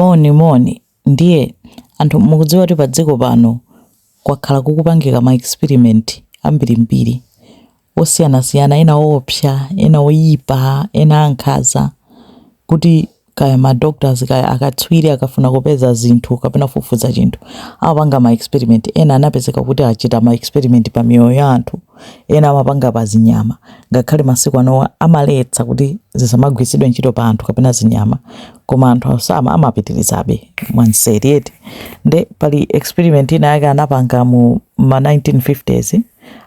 Moni, moni. Ndiye, anthu, mukudziwa kuti pa dziko pano kwakhala kukupangika ma experiment ambirimbiri, osiyanasiyana, ena owopsya, ena oyipa, ena ankhaza, kuti, kaya ma doctors, kaya akatswiri akafuna kupeza zinthu kapena kufufuza chinthu, amapanga ma experiment. Ena anapezeka kuti achita ma experiment pa miyoyo ya anthu, ena amapanga pa zinyama, ngakhale masiku anowa amaletsa kuti zisamagwiritsidwe ntchito pa anthu kapena zinyama. koma anthu samva amapitirizabe mwanseri eti nde pali experiment ina yake anapanga mu ma 1950s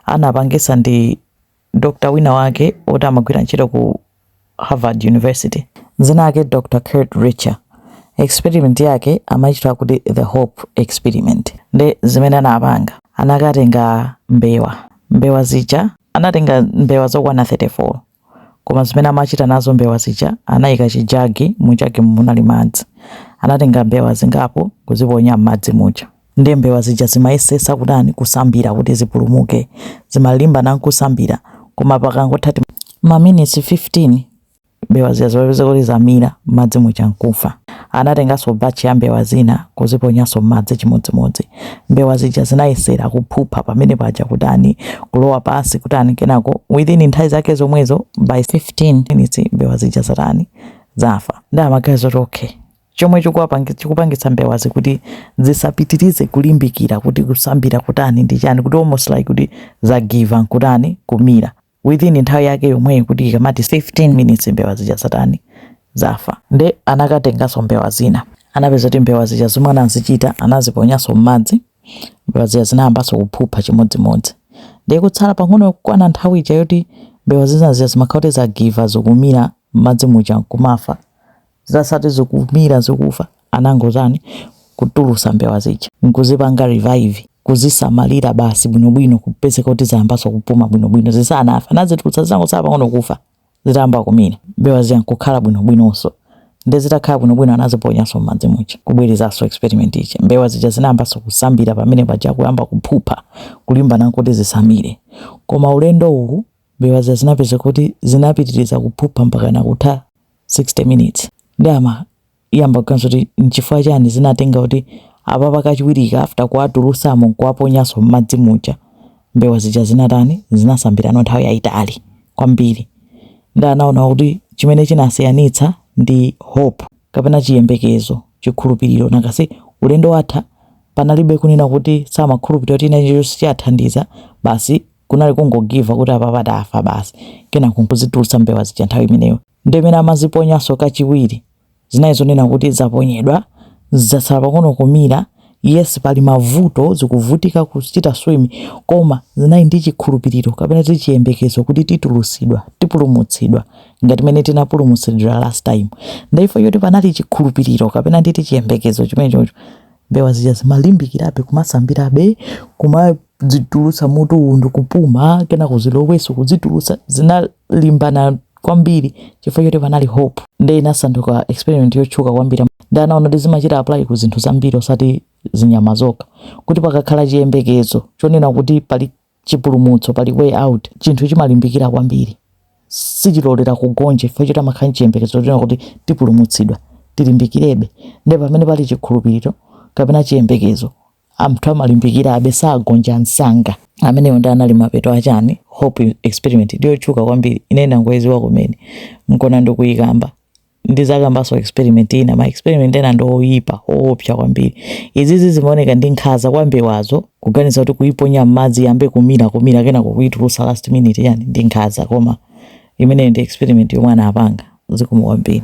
anapangisa ndi dr wina wake oti amagwira ntchito ku harvard university dzina lake dr kurt richter experiment yake amaitcha kuti the hope experiment nde zimene anapanga anakatenga mbewa mbewa zija anatenga mbewa zokwana 34 Koma zimene amachita nazo mbewa zija, anaika chijagi, mujagimu munali madzi. Anatenga mbewa zingapo kuziponya m'madzi muja. Ndiye mbewa zija zimayesesa kutani kusambira kuti zipulumuke. Zimalimbana nkusambira, koma pakangotha ti maminitsi 15, mbewa zija zimapezeka kuti zamira m'madzi muja nkufa. Anatenganso batch ya mbewa zina kuziponyanso mmadzi chimodzimodzi. Mbewa zija zinayesera kuphupha pamene paja kutani kulowa pansi kutani kenako within nthawi zake zomwezo by 15 minutes mbewa zija zatani zafa. Nde amaganiza zoti okay chomwe chikuwapangitsa chikupangitsa mbewazi kuti zisapitirize kulimbikira kuti kusambira kutani ndi chani kuti almost like kuti zagive up nkutani kumira. within nthawi yake yomweyi kuti ikamati 15 minutes mbewa zija zatani zafa nde anakatenganso mbewa zina anapeza kuti mbewa zija zomwe anazichita anaziponyanso m'madzi mbewa zija zinayambanso kuphupha chimodzimodzi ndiye kutsala pang'ono kukwana nthawi ija yoti mbewa zina zija zimakhala kuti zagive up zikumira m'madzi muja nkumafa zisanati zikumira zikufa anangotani kutulusa mbewa zija nkuzipanga revive kuzisamalira basi bwinobwino kupezeka kuti zayambanso kupuma bwinobwino zisanafe anazitulutsa zinangosala pang'ono kufa zitayamba kumira mbewa zija nkukhala bwinobwinonso nde zitakhala bwinobwino anaziponyanso m'madzi muja kubwerezanso experiment ija mbewa zija zinayambanso kusambira pamene paja kuyamba kuphupha kulimbana kuti zisamire koma ulendo uwu mbewa zija zinapezeka kuti zinapitiriza kuphupha mpaka nakutha 60 minutes nde anayamba kuganiza kuti nchifukwa chani zinatenga kuti apapa kachiwiri aka after kuwatulusamo nkuwaponyaso mmadzi muja mbewa zija zinatani zinasambirano nthawi yayitali kwambiri nde anaona kuti chimene chinasiyanitsa ndi hope kapena chiyembekezo chikhulupiriro because ulendo watha panalibe kunena kuti samakhulupirira kuti china chilichonse chiwathandiza basi kunali kungogiva kuti apapa tafa basi kenako nkuzitulutsa mbewa zija nthawi imeneyo ndi imene amaziponyanso kachiwiri zinali zonena kuti zaponyedwa zatsala pang'ono kumira yes pali mavuto zikuvutika kuchita swim koma zinali ndi chikhulupiriro kapena chiyembekezo kuti titulutsidwa tipulumutsidwa ngati mene tinapulumutsidwa last time ndipo poti panali chikhulupiriro kapena nditi chiyembekezo chimenecho mbewa zija zimalimbikirabe kumasambirabe kuma kudzitulutsa mutu ndi kupuma kena kuziloweso kudzitulutsa zinalimbana kwambiri chifukwa choti panali hope nde inasanduka experiment yotchuka kwambiri nde anaona kuti zimachita apply ku zinthu zambiri osati zinyama zokha kuti pakakhala chiyembekezo chonena kuti pali chipulumutso pali way out chinthu chimalimbikira kwambiri sichilolera kugonja chifukwa choti amakhala nchiyembekezo chonena kuti tipulumutsidwa tilimbikirebe nde pamene pali chikhulupiriro kapena chiyembekezo Anthu amalimbikirabe sagonja msanga. Ameneyo nde anali mapeto a chani? Hope experiment ndiyotchuka kwambiri ine ndangoiziwa kumene nkona ndikuikamba ndizakambaso experiment ina ma experiment ena ndi oyipa oopsa kwambiri izizi zimaoneka ndi nkhanza kwa mbewazo kuganiza kuti kuiponya mmadzi yambe kumira kumira kenako kuitulusa last minute yani ndi nkhanza koma imeneyo ndi experiment yomwe anapanga zikomo kwambiri.